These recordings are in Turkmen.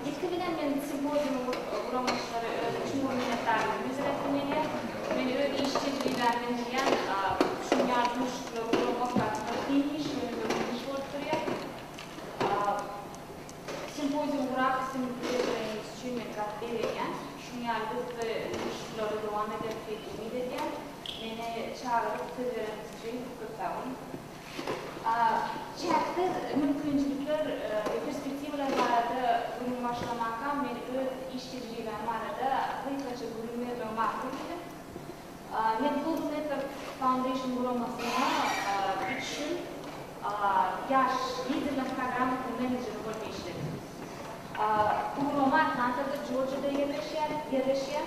Ilki bilen men simpoziumyň guramaçylara özüm çuňňur minnetdarlygymy bildirip etdim ine. Men öz iş tejribäm menzilýän şuň ýaly duşuşyklary guramak babatda kyn iş, ýöne iş bolup durýar. Simpozium gurap islendik derejeleriňiz üçin men zat begenýän. Şuň ýaly gyzykly duşuşyklary dowam ederis diýip umyt edýän. Meni çagyryp söz bereniňiz üçin köp sag boluň. A. Çäksiz mümkinçilikler we perspektiwalar barada gürrüň başlamakam men öz iş tejribäm barada gysgaça gürrüň bermegi makul bildim. A. Men Google Network Foundation guramasyna üç ýyl Ýaş liderler programmasynyň menejeri bolup işledim. A. Bu gurama Atlantada, Jorjiýada ýerleşýär.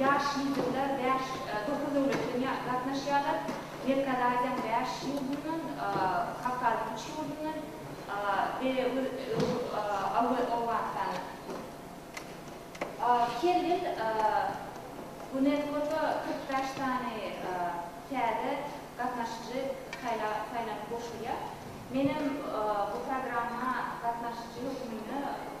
Ýaş liderler bäş, dokuz döwletden ýa gatnaşýarlar. Merkezi Aziýanyň bäş ýurdundan, Kawkazyň üç ýurdundan we Öw Owganystandan. Her ýyl UNESCO-da kyrk bäş sany täze gatnaşyjy saýla saýlanyp goşulýar. Menem bu programma gatnaşyjy hökmünde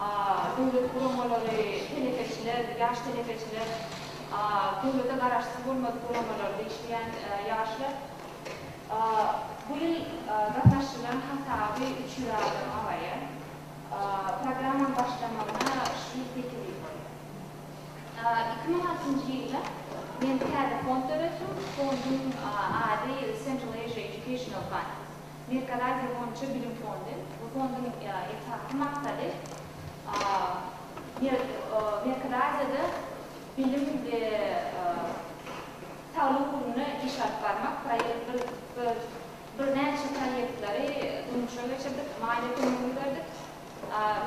A. Döwlet guramalary, telekeçiler, ýaş telekeçiler, A. Döwlete garaşsyz bolmadyk guramalar, degişilýän ýaşlar, A. Bu ýyl gatnaşdyrylan hasaby üç ýüz adam abaýa, A. Programmanyň başlamagyna şu ýyl sekiz ýyl bolýar. A. Iki müň altynjy ýylda men täze fond döretdim. Fonduň ady Central Asia Educational Fund. Merkezi Aziýa boýunça bilim fondy. Bu fonduň esasy maksady Merkezi Aziýada bilim we taglyk ugrunda iş alyp barmak. Biz birnäçe proýektleri durmuşa geçirdik, maliýe kömegini berdik.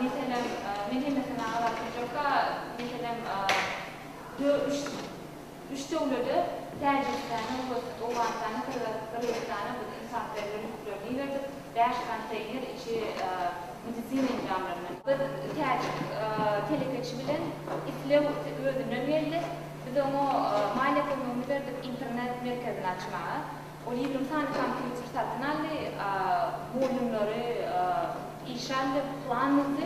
Meselem, men hemmesini aňzap durjakka, meselem, dö, üç. Üç döwlede, Täjigistana, Owgust, Owganystana, Gyrgyz, Gyrgyzystana biz ynsanperwer ýüklerini iberdik, bäş konteýner içi medisina enjamlary bilen. Biz täjik telekeçi bilen islew özünden geldi. Biz oňa maliýe kömegini berdik internet merkezini açmaga. Ol ýigrimi sany kompýuter satyn aldy, modemleri işe aldy, plan düzdi.